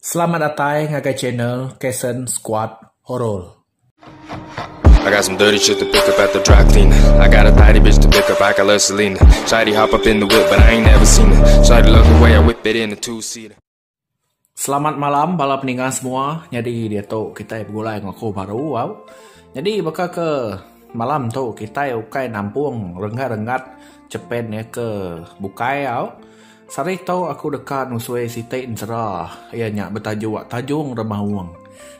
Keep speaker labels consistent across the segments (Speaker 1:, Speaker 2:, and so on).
Speaker 1: Selamat datai ngagai channel Kason Squad Horror. I got some dirty shit to pick up at the dry cleaner. I got a tidy bitch to pick up, I got love Selena. Shawty hop up in the whip, but I ain't never seen her. Shawty love the way I whip it in a two-seater. Selamat malam bala peninga semua. Nyadi dia tu kita begulai dengan aku baru wow. Nyadi baka ke malam tu kita ukai nampung renggat-renggat cepen ya ke bukai wow. Sehari tu aku deka nusui siti ensera iya nya betajuk Tajung Remaung.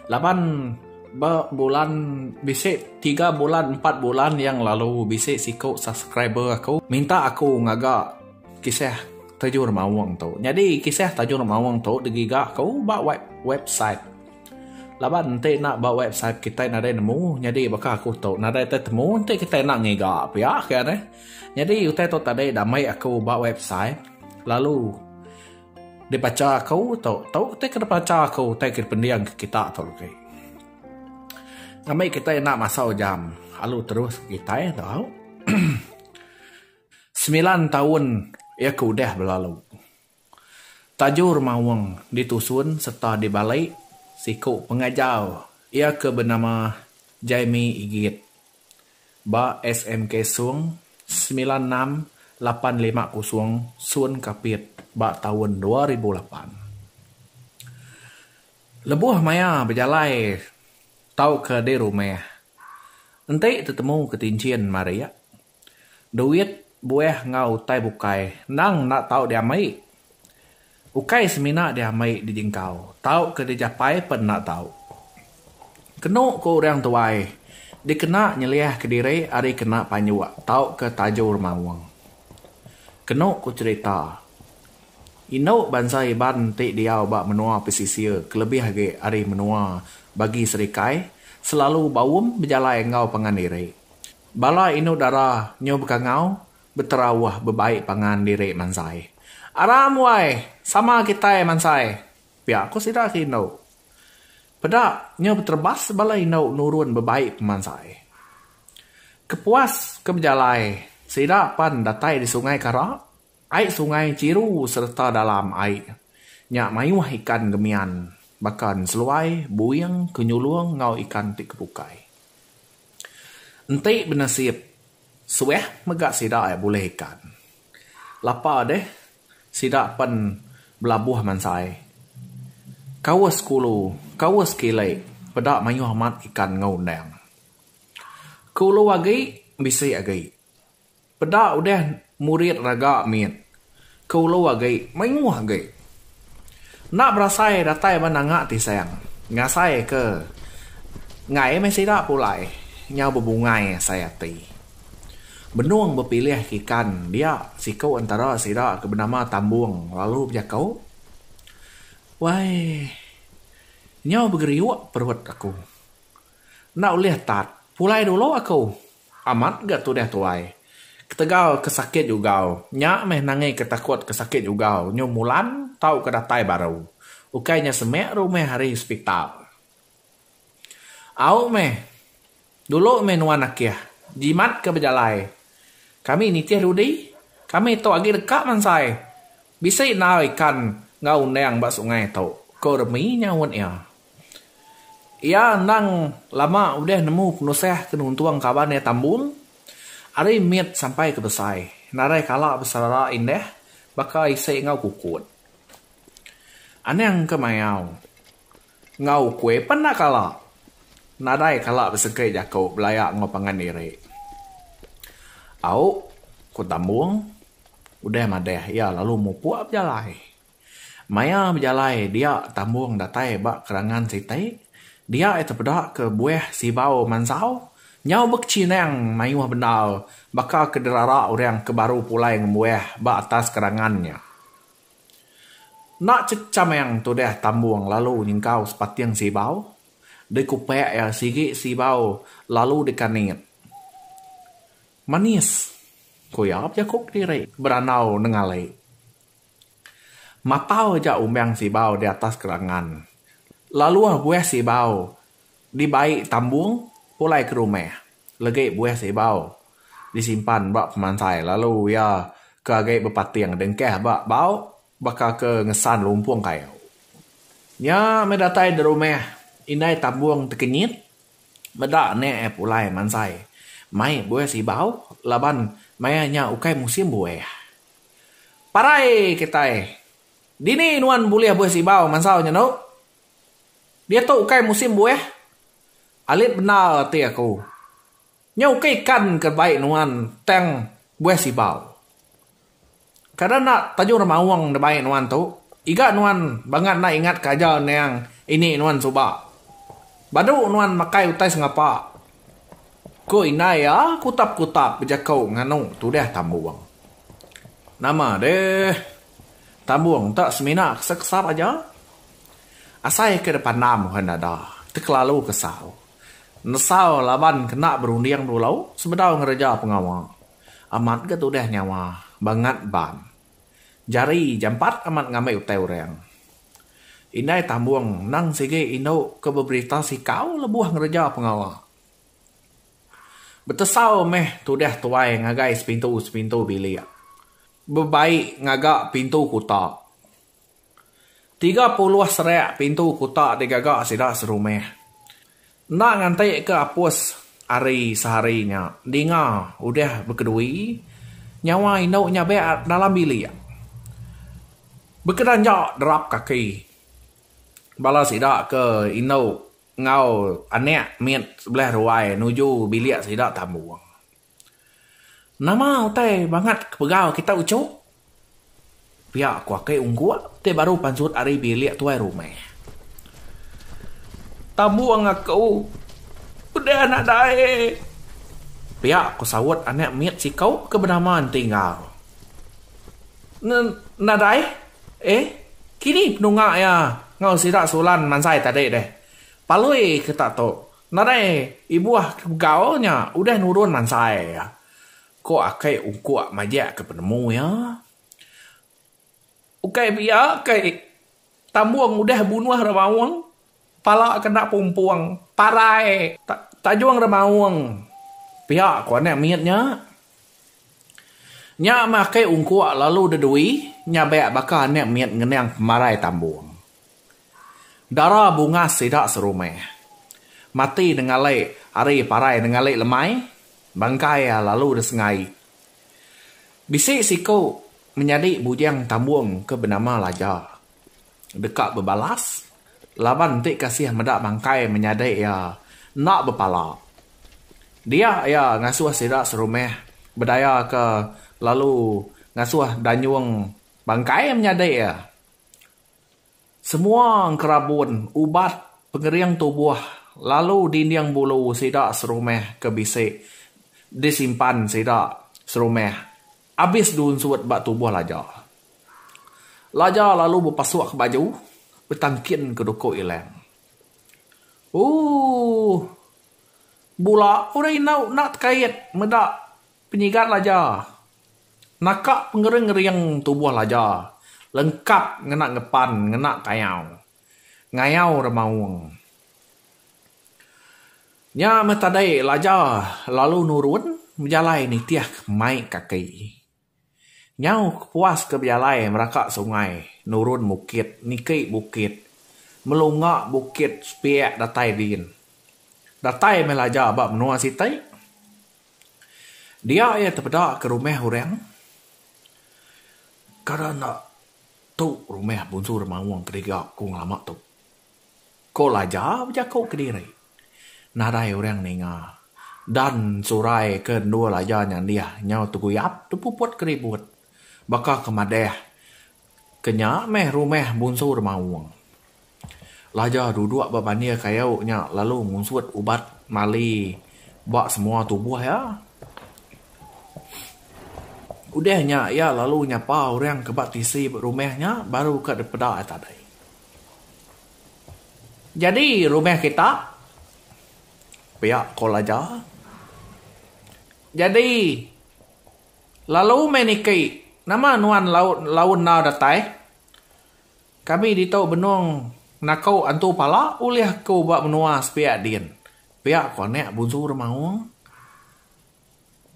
Speaker 1: Laban ba bulan bisi tiga bulan empat bulan yang lalu bisi siku subscriber aku minta aku ngaga kisah Tajung Remaung tu. Nyadi kisah Tajung Remaung tu digiga aku ba website. Laban enti enda ba website kitai nadai nemu. Nyadi baka aku tu nadai temu enti kitai enda ngiga pia kian eh. Nyadi utai tu tadi diambi aku ba website lalu dibacha aku tu. Tu utai ke dibacha aku utai ke dipending ke kita tu agi. Ngambi kita enda masa ujam alu terus kitai tu au. Semilan taun iya ke udah belalu. Tajour maung ditusun serta dibalai siku pengajar iya ke benama Jaime Igit ba SMK Sung semilan enam lapan lima kosong Sun Kapit ba taun dua ribu lapan. Lebuh maya bejalai tauka di rumah, enti tetemu ketinchin marik, Duit, buah enggau utai bukai endang enda tau diamai. Ukai semina diamai dijingkau, tau ke dijapai pen enda tau. Kenu ku urang tuai, dikena nyeliah ke diri ari kena panjok tau ke tajur maung. Kenu ku cherita, indu bansa Iban ti diau ba menua pesisir kelebih agi ari menua bagi serikai selalu baum bejalai enggau pangan diri. Bala indu dara nyu bekangau betera wah bebai pangan diri mansai. Aram wai, sama kitai mansai, pia ku sida ke indu. Peda nyu beterebas bala indu nurun bebai pemansai. Kepuas ke bejalai sida pan datai di Sungai Karak Ai sungai chiru sereta dalam ai nya mayuh ikan gemian baka enseluai, buing, kenyulung enggau ikan ti kebukai. Enti benesip suah mega sida ai bulih ikan. Lapa deh sida pen belabuh mansai kaus kulu, kaus kili peda mayuh amat ikan enggau undang. Ke ulu agi bisi agi. Peda udah murid raga mit ke ulu agi mayuh agi. Enda berasai datai ba nanga tisang ngasai ke enggai meh sida pulai nyau bebungai asai ati. Benung bepilih ke ikan dia siku entara sida ke benama Tambung lalu bejako, Wai nyau begeriuk perut aku. Enda ulih tat pulai dulu aku. Amat ga tudah tuai. Ketegal ke sakit jugau. Nya meh nangi ke takut ke sakit jugau nyu mulan tau ke datai baru. Ukai nya semik rumah ari hospital. Au meh. Dulu meh nuan akih. Jimat ke bejalai. Kami nitih dudi. Kami tu agi deka mansai. Bisi enggau ikan enggau undang ba sungai tu, ko Remi nyaut iya. Iya endang lama udah nemu penusah ke nuntung kaban iya tambun ari mit sampai ke besai nadai kala beserara indah baka isi enggau kukut. Anang ke mayau enggau ukui pun enda kala nadai kala besengkit jaku belaya enggau pangan diri. Au, ku tambun udah madah iya lalu mupuk bejalai. Maya bejalai dia tambung datai ba kerangan sitai, dia iya tepeda ke buah sibau mansau nyau bekechinang mayuh bendar baka ke dirara orang ke baru pulai ngembuah ba atas kerangan nya. Enda chechamang tudah tambung lalu nyengkau sepating sibau, dikupak iya sigi sibau lalu dikanit. Manis, ku iya bejaku kediri berandau nengali. Matau aja umang sibau di atas kerangan. Laluh buah sibau dibai tambung pulai ke rumah legi buah sibau disimpan ba pemansai lalu iya ke agi bepating dengkah ba bau baka ke ngesan lumpung kayu. Nya meh datai di rumah indai tambung tekenyit meda nya eh pulai mansai mai buah sibau laban maya nya ukai musim buah. Parai kitai. Dini nuan bulih buih sibau mansau nya endo? Diatu ukai musim buih? Alit bendar ati aku. Nya ukai ikan ke bai nuan tang buih sibau. Kada enda taja orang maung enda bai nuan tu. Iga nuan bangat enda ingatka aja endang ini nuan suba. Badu nuan makai utai sengapa. Ku indai iya kutap-kutap bejekau nganu tudah tambung. Nama deh, tambung enta semina kesap-kesap aja. Asai ke dipandam orang dada, tekelalu kesau. Nesau laban kena berunding dulu sebedau ngereja pengawa. Amat ga tudah nyawa, bangat ban. Jari jampat amat ngambi utai orang. Indai tambung endang sigi indu ke beberita sikau lebuh ngereja pengawa. Betesau meh tudah tuai ngagai sepintu-sepintu bilik. Bebai ngaga pintu kuta. Tiga puluh serak pintu kuta digaga sida serumah. Enda nganti ke apus ari sehari nya Dinga udah bekedui nyawa indu nyabek dalam bilik bekedanjak derap kaki bala sida ke indu enggau anak mit sebelah ruai nuju bilik sida tambung. Nama utai bangat ke pegau kita uchu? Pia ku ake ungkuk ti baru pansut ari bilik tuai rumah. Tambung aku udah anak dae. Pia ku saut anak mit siku ke benama Enti Enggau. Ne nadai eh kini penunga iya enggau sida Sulan mansai tadi deh. Palui ke tak tu. Nadai ibuh ke begau nya udah nurun mansai iya, ko akai ungkuk majak ke penemu iya. Ukai pia kai Tambung udah bunuh Remaung, pala ke enda pumpung, parai Tajung Remaung pia ko anak mit nya. Nya meh akai ungkuk lalu de dui nyabak baka anak mit ngenang pemarai Tambung. Dara bungas sida serumah. Mati nengali ari parai nengali lemai, bangkai iya lalu disengai. Bisi siku menyadi bujang tambung ke benama Laja. Deka bebalas laban enti kasih meda bangkai menyadi iya enda bepala. Dia iya ngasuh sida serumah bedaya ke lalu ngasuh danyung bangkai menyadi iya. Semua engkerabun ubat pengering tubuh lalu dinding bulu sida serumah ke bisi disimpan sida serumah abis diunsut ba tubuh Laja. Laja lalu bepasuk baju betangkin ke duku Ilang. Ooh! Bula udah indu enda tekait meda Penyigat laja. Naka pengering-ngering tubuh laja lengkap ngena ngepan ngena kayau. Ngayau remaung. Nya meh tadai laja lalu nurun bejalai nitih mai kaki. Nyau kepuas ke bejalai meraka sungai, nurun bukit, niki bukit, melunga bukit sepiak datai din. Datai meh laja ba menua siti. Dia iya tepeda ke rumah orang. Kada enda tu rumah Bonsu Remaung ke diga ku ngelama tu. Ko Laja bejako kediri. Nadai orang ninga. Dan surai ke endur Laja nyandih nyau teguyap tepuput keribut. Baka ke madah ke nya meh rumah Bunsu Remaung. Laja duduk ba bandir kayu nya lalu ngunsut ubat mali ba semua tubuh iya. Udah nya iya lalu nyapa orang ke ba tisi rumah nya baru ka dipeda iya tadi. Jadi rumah kita pia call aja. Jadi lalu meh niki nama nuan lalu enggau datai kami ditu benung nako entu pala ulih aku ba menua sepia din pia ko anek bunsu demaung.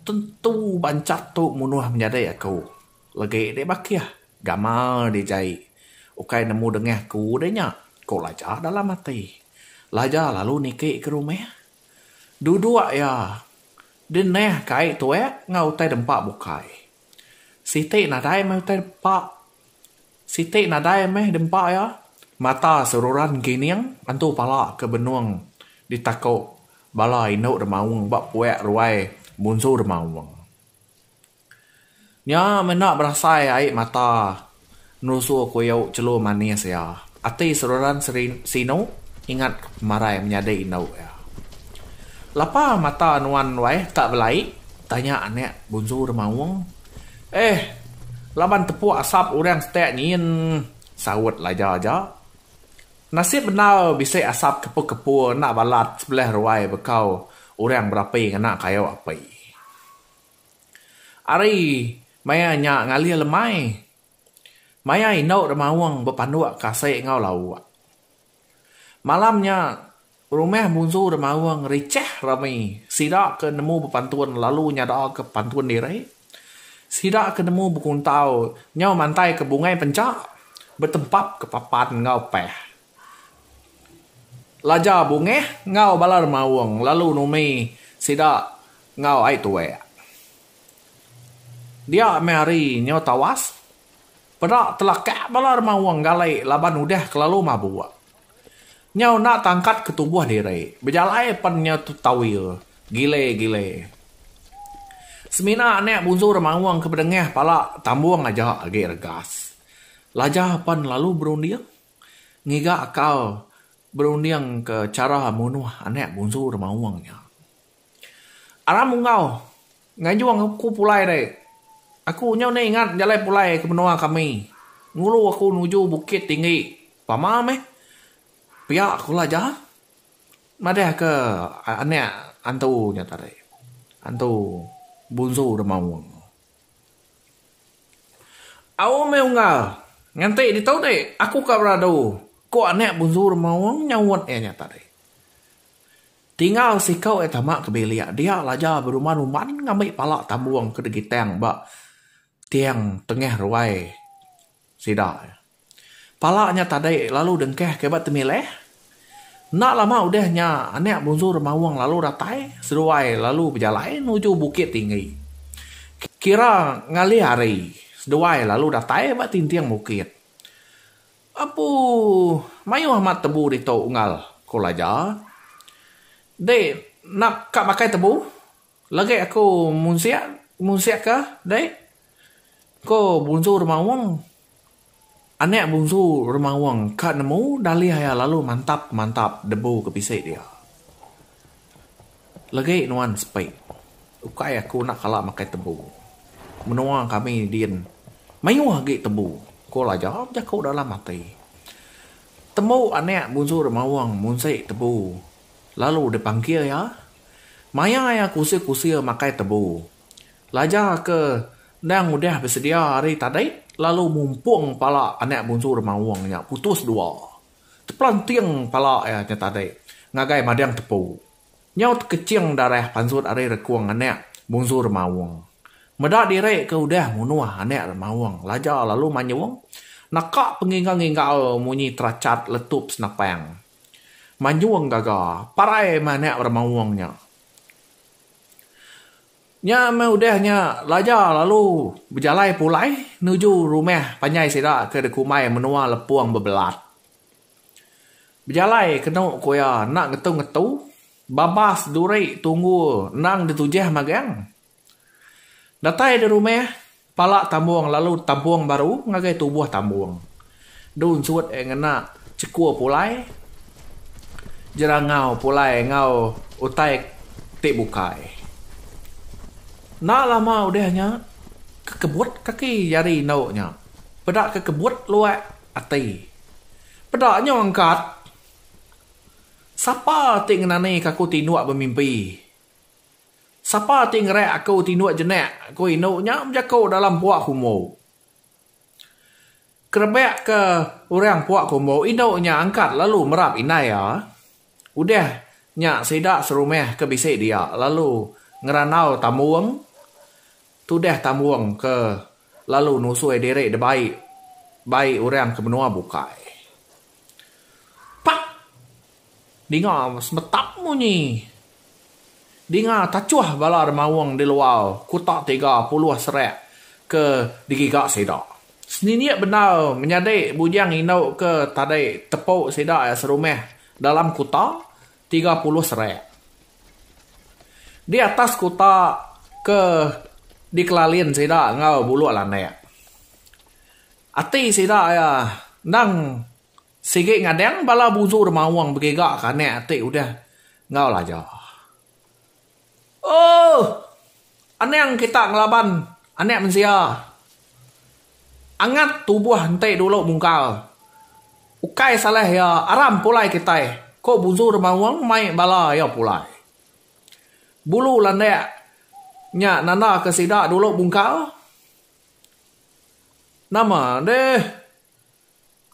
Speaker 1: Tentu bancat tu munuh menyadi aku. Legi deh bakih, gamal deh jai. Ukai nemu dengah aku deh nya, ku Laja dalam ati. Laja lalu niki ke rumah. Duduk iya deh neh kai tuak enggau utai dempa bukai. Siti nadai meh utai dempa. Siti nadai meh dempa iya, mata seruran gining antu pala ke benung ditaku bala indu demaung ba puak ruai munsu demaung. Nya menda berasai ai mata nerusu kuyu chelu manis iya, ati seruran sinu ingat ke pemarai menyadi indu iya. Lapa mata nuan ruai tak belai? tanya anak bunsu demaung. Eh, laban tepuk asap orang setek nyin, saut Laja aja. Nasib bendar bisi asap kepu-kepu enda balat sebelah ruai bekau orang berapi ngena kayu api. Ari maya nya ngalih lemai. Maya indu Remaung bepanduk ke asai enggau lauk. Malam nya, rumah Munsu Remaung richah rami sida ke nemu bepantun lalu nyadaka pantun diri. Sida ke nemu bekuntau nyau mantaika bungai penchak betempapka papan enggau pah. Laja bungah enggau bala Remaung lalu numi sida enggau ai tuak. Dia meh hari nyo tawas, peda telakak bala dema wong galai laban udah kelalu mabuk. Nyau enda tangkat ke tubuh diri, bejalai pen nyau tetawil, gile-gile. Semina anak bunsu dema wong ke bedengah pala tambung aja agi regas. Laja pen lalu berunding ngiga akal berunding ke chara munuh anak bunsu dema wong nya. Aram Ungau, Nganjung aku pulai deh. Aku nyau enda ingat jalai pulai ke menua kami. Ngulu aku nuju bukit tinggi. Pama meh pia aku belaja. Madah ke anak antu nya tadi. Antu Bunsu Remaung. Au meh unggal. Nganti ditu ti aku ka beradu, ku anak Bunsu Remaung nyaut iya nya tadi. Tingau siku iya tama ke bilik dia laja beruman uman ngambi pala tambung ke digitang ba tiang tengah ruai sida. Pala nya tadi lalu dengkah ke ba temilah. Enda lama udah nya anak Bunsu Remaung lalu datai seduai lalu bejalai nuju Bukit Tinggi. Kira ngalih hari seduai lalu datai ba tinting bukit. Apu, mayuh amat tebu ditu unggal, ku Laja. Dei, nap ka makai tebu? Lagi aku munsik, munsik ka, dei, ku Bunsu Remaung. Anak Bunsu Remaung ka nemu dalih iya lalu mantap-mantap debu ke bisi dia. Legi nuan sepi. Ukai aku enda kala makai tebu. Menua kami din mayuh agi tebu, ku Laja bejaku dalam ati. Tembu anak munsu dep Mawang munsi tebu lalu dipangkir iya. Maya iya kusir-kusir makai tebu. Laja ke endang udah besedia ari tadi lalu mumpung pala anak munsu dep Mawang nya putus dua. Tepelanting pala iya nya tadi ngagai mading tepu. Nyau tekeching darah pansut ari rekung anak Bungsu Remaung. Meda diri ke udah munuh anak Remaung Laja lalu manyung naka pengingau-ngingau munyi terachat letup senapang. Manyung gaga parai meh anak Remaung nya. Nya meh udah nya Laja lalu bejalai pulai nuju rumah panjai sida ke dikumbai Menua Lepong Bebelat. Bejalai kenu ku iya enda ngetu-ngetu, babas duri tunggu endang ditujah magang. Datai di rumah. Pala tambung lalu tabung baru ngagai tubuh tambung. Du ensut eh ngena chekur pulai, jerangau pulai enggau utai ti bukai. Enda lama udah nya, kekebut kaki jari endu nya peda kekebut luak ati. Peda nya engkat, sapa ti ngenani ka aku tinduk bemimpi Sapa ti ngereak aku tinduk jenak, ku indu nya bejaku dalam puak kumbu. Kerebak ke orang puak kumbu, indu nya angkat lalu merap indai iya. Udah nya sida serumah ke bisi dia lalu ngerandau tambung, tudah tambung ke lalu nusui diri debai bai orang ke menua bukai. Pak! Dinga semetap munyi. Dinga tachuh bala demawung di luar kuta tiga puluh serak ke digiga sida. Senindik bendar menyadi bujang indu ke tadi tepu sida iya serumah dalam kuta tiga puluh serak. Di atas kuta ke dikelalin sida enggau buluk landak. Ati sida iya endang sigi ngadang bala buzu demaung begiga ke anak ati udah enggau laja. Ooh anang kita ngelaban anak mensia angat tubuh enti dulu mungkal ukai salah iya aram pulai kitai ko buzu demaung mai bala iya pulai. Bulu landak nya nanda ke sida dulu mungkal. Nama deh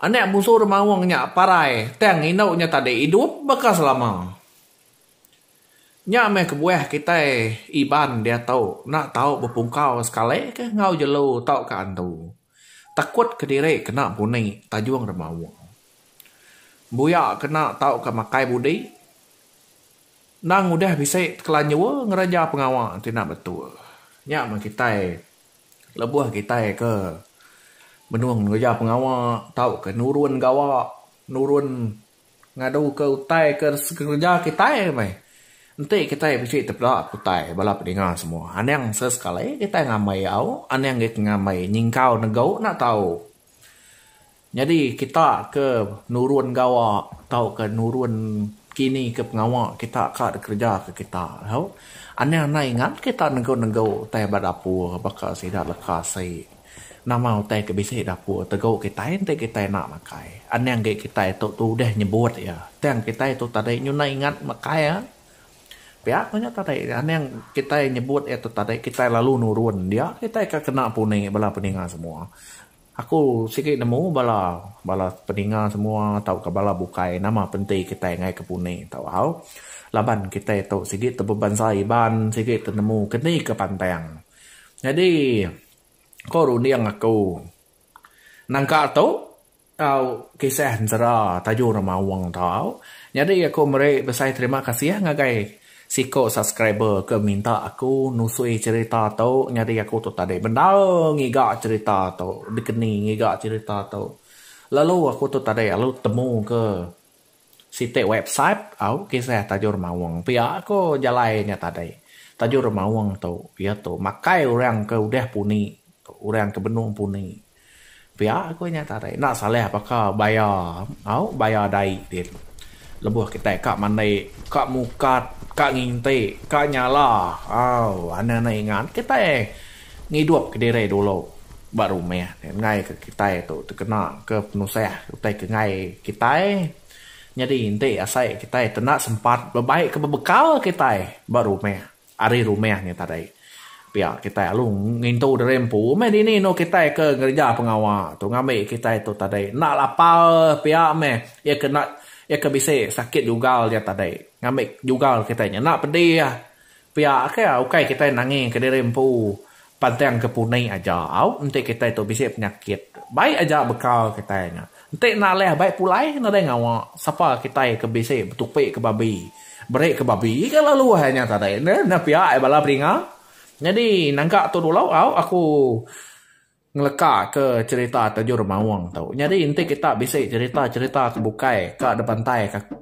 Speaker 1: anak musu orang maong nya parai tang indu nya tadi idup baka selama. Nya meh kebuah kitai Iban diatu enda tau bepungkau sekali kah enggau jelu tauka antu. Takut kediri kena puni tajung orang maong. Buya kena tauka makai budi. Endang udah bisi tekelanjur ngereja pengawa ti enda betul. Nya meh kitai lebuh kitai ke benung ngereja pengawa tauka nurun gawa, nurun ngaduka utai ke kereja kitai meh enti kitai bisi tepeda ke utai bala peninga semua. Anang sesekali kitai ngamai au, anang kitai ngamai nyingkau negu enda tau. Nyadi kita ke nurun gawa tauka nurun kini ke pengawa kita ka dikereja ke kita tu anang anai ngan kita nengku nengku utai ba dapur baka sida leka asi nama utai ke bisi dapur tegu kitai enti kitai enda makai anang agi kitai tu tu udah nyebut iya tang kitai tu tadi nyunai ingat makai iya pia ku nya tadi anang kitai nyebut iya tu tadi kitai lalu nurun dia kitai ka kena puni bala peninga semua. Aku sigi nemu bala bala peninga semua tauka bala bukai nama penti kitai ngaika puni tau au laban kitai tu sigi tau bebansa Iban sigi tau nemu keni ke pantang. Nyadi ko runding aku nangka tu tau kisah ensera Tajoh Remaung tau au nyadi aku meri besai terima kasih ngagai Siko subscriber ke minta aku nusui cerita tu nyadi aku tu tadi bendar ngiga cerita tu dikeni ngiga cerita tu lalu aku tu tadi lalu temu ke siti website au kisah tajur maung pia ko jalai nya tadi tajur maung tu iya tu makai orang ke udah puni orang ke benung puni. Pia ku nya tadi enda salah baka baya au baya dai din lebuh kitai ka mandi ka mukat ka nginti ka nyala au anang anang ingat kitai ngidup ke diri dulu ba rumah ngai ke kitai tu tekena ke penusah utai ke ngai kitai nyadi enti asai kitai tu enda sempat bebai ke bebekal kitai ba rumah. Ari rumah nya tadi, pia kitai alu ngintu diri empu meh dini enu kitai ke ngereja pengawa tu ngambi kitai tu tadi enda lapar pia meh iya kena iya ke bisi sakit jugal iya tadi ngambi jugal kitai nya enda pedih pia ke ukai kitai nangingka diri empu Pantang ke puni aja au enti kitai tu bisi penyakit. Baik aja bekal kitai nya. Enti enda leh baik pulai nadai ngawa sapa kitai ke bisi betupi ke babi. Beri ke babi ke lalu hai nya tadi enda pia ai bala beringa. Nyadi naga tu dulu au aku ngeleka ke cerita Tajur Maung tu. Nyadi enti kita bisi cerita-cerita ke bukai ka dibantai ka.